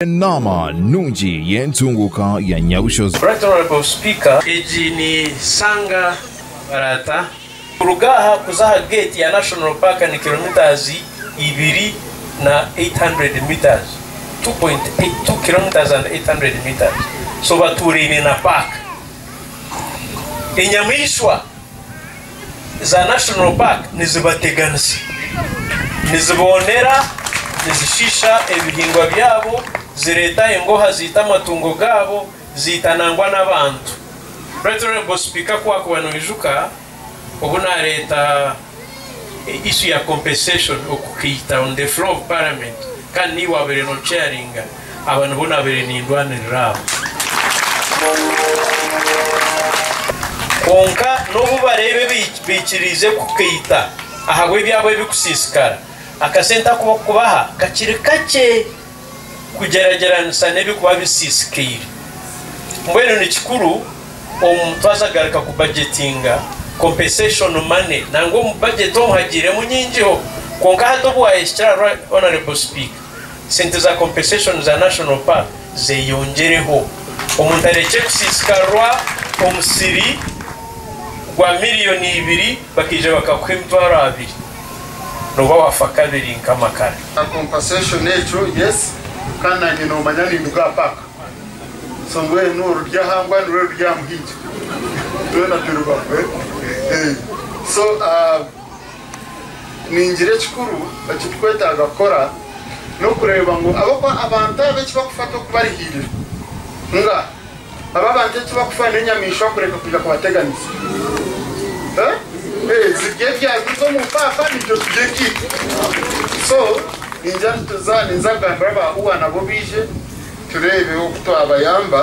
Enaama nungi y'entunguuka ya Nyabushozi. Right Honourable Speaker, egi ni Sanga Baraata. Kuruga aha kuza aha gate ya National Park ni kilometres ibiri na 800 metres, 2.82 kilometres and 800 metres, so batuuraine na park. Enyamaishwa. za National Park nizibateganisa, niziboonera, nizishiisha ebihingwa byabo, zireeta engooha ziita amatungo gaabo, ziita nangwa n'abantu. Right Honourable Speaker, ku waakuba noijuka obu naareeta issue ya compensation okukaita on the floor of parliament kandi niiwe waabaire no chairinga, Aba nibo naabaire nindwanirira abo. Kwonka n'obu bareeba ebi baikiriize kukaita ahabw'ebyabo ebirikusiisikara, akasente aku barikubaha kakiri kakye kugyeragyeranisa n'ebirikuba bisiisikaire. Mbwenu ni kikuru omu twaza garuka kubajetinga, compensation money, nangwa omu bajeti omu hagiiremu nyingiho. Kwonka hati obu waayehikira ahari Honourable Speaker, sente za compensation za National Park zeyongyereho omuntu arekye kusisikarwa omusiri gwa million ibiri bakaija bakakuha emitwaro abiri noba wafa kabiri nka amakara. Kya compensation ekyo yes Kandi nanye nomanya ninduga aha park so mbwenu orurya aha mbwa nirwe rurya aha muhigi byona birubaho so ahh. Ningira ekikuru ekitukwetaaga kukora n'okureeba ngu ab'okuba abantu abo eki bakufa tokubarihiirira. Nga abo abantu eki bakufa n'enyamaishwa kureka kwija kubateganisa. Eeh, zirye ebyanzi z'omu mpaapa naitwe turye ebyaitu. So, ningira nituza, ninza kugambira aba UA nabo baije tureebe oku twabayamba.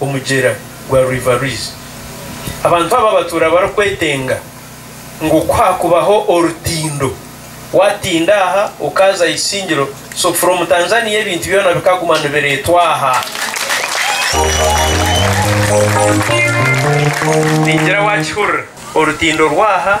omugyera gwa River Rwizi. Abantu aba batuura barikwetenga ngu ku haakubaho orutindo, waatinda aha okaaza aha Isingiro so from Tanzania ebintu byona bikaguma nibireetwa aha. Ningira waakihurira, orutindo rw'aha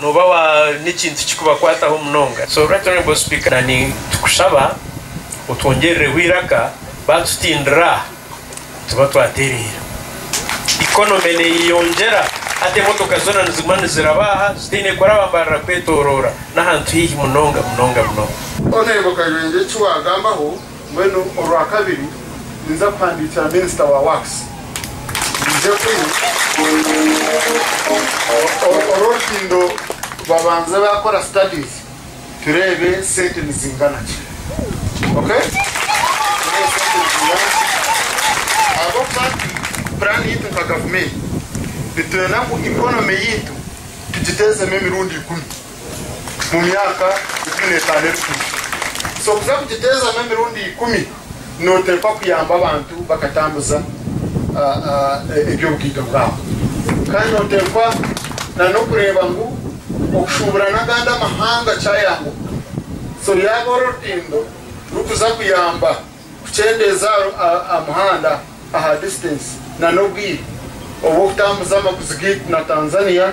Nooba waine ekintu kikubakwataho munonga, so Right Honourable Speaker, na nitukushaba otwongyerireho eiraka baatutindira nituba twatereera. Economy neeyeyongyera hati emotoka zoona niziguma niziraba aha zitaine kuraba mbarira kwetoroora n'ahantu haihi munonga munonga munonga. Honourable Kayanja eki waagambaho, Mbwenu Orwakabiri ninza kuhandiikira Minisita wa Works naije kunu, Orworukindo babanze baakora studies tureebe sente nizingana ki. Okay? Tureebe sente nizingana ki ahabw'okuba nti puraani yaitu nka Gavumenti nitwenda ngu economy yaitu tugiteezemu emirundi ikumi. mu myaka ikumi n'etaano erikuhika. So kuza kugiteezamu emirundi ikumi nooteekwa kuyamba abantu bakatambuza eby'obugaito bwabo. Kandi nooteekwa n'okureeba ngu okushuubura n'agandi amahanga kyayambuka. So yaaba ori orutindo rukuza kuyamba kukyendeeza aha muhanda, aha distance, n'obwire obw'okutambuza amaguzi gaitu na Tanzania,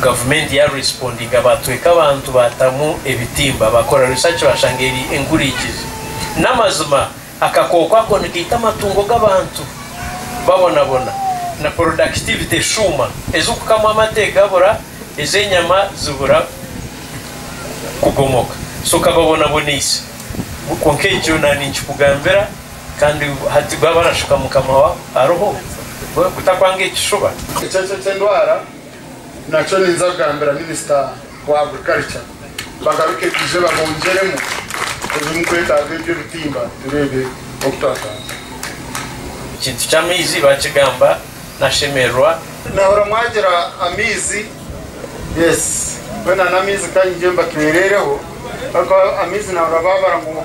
Gavumenti ya respondinga batweka abantu batamu ebitimba bakora research bashanga eri enkurikizi namazima akakooko ako nikaita amatungo gabantu babonabona na productivity eshuuma ezukukamwa amate gabura ezenyama zibura kugomoka so kababonaboneise kwonka ekyo nandi nkikugambira Kandi hati bwaba arashuka mukama wa aroho we kutakwanga ekishuba. Ekyeekye ky'endwara nakyo ninza kugambira minisita wa agriculture bagaruke baije babongyeremu ebimukwetaaga ebyo ebitimba tureebe oku twatwaza. Ekintu ky'amaizi bakigamba nashemererwa. Nahurira mwagira amaizi yes mbwenu nan'amaizi kangye mbatwerereho ariko amaizi nahurira babara ngu.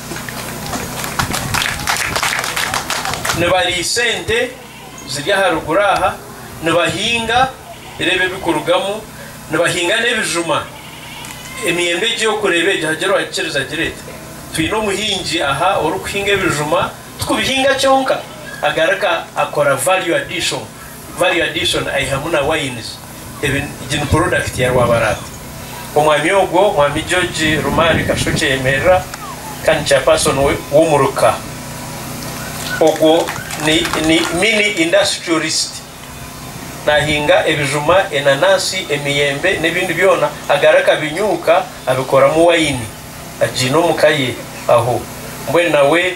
nibariisa ente ziri aha ruguru aha, nibahinga, reeba ebirikurugamu, nibahinga n'ebijuma, emiyembe egi orikureeba egi hagira owaagikiriza agira ati, twine omuhingi aha orikuhinga ebijuma, tikubihinga kyonka, agaruka akora value addition, Mario Adison aihamu na Wines ebi egi ni porodakiti ya Rwabaraata. Omwami ogwo, Mwami George Rumaari Kasho Kyeyemerera kandi Chairperson w'omuruka ogwo ni ni Mini Industrialist. Naahinga ebijuma, enanansi, emiyembe n'ebindi byona agari akabinyuuka abikoramu wayini agiine omu ka ye aho. Mbwenu nawe.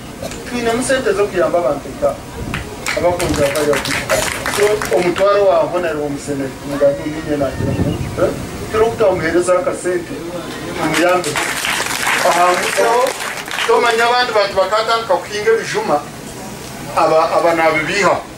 Titwinemu sente z'okuyamba abantu nka abakunzi ba Fire Vision so omutwaro wa Hon ariwe omusenene omugambi ngu inye nagira ngu kiro ku twamuherezaho akasente tumuyambeho ahangutseho tomanya abandi bantu bakatandika kuhinga ebijuma aba aba nabibiihaho.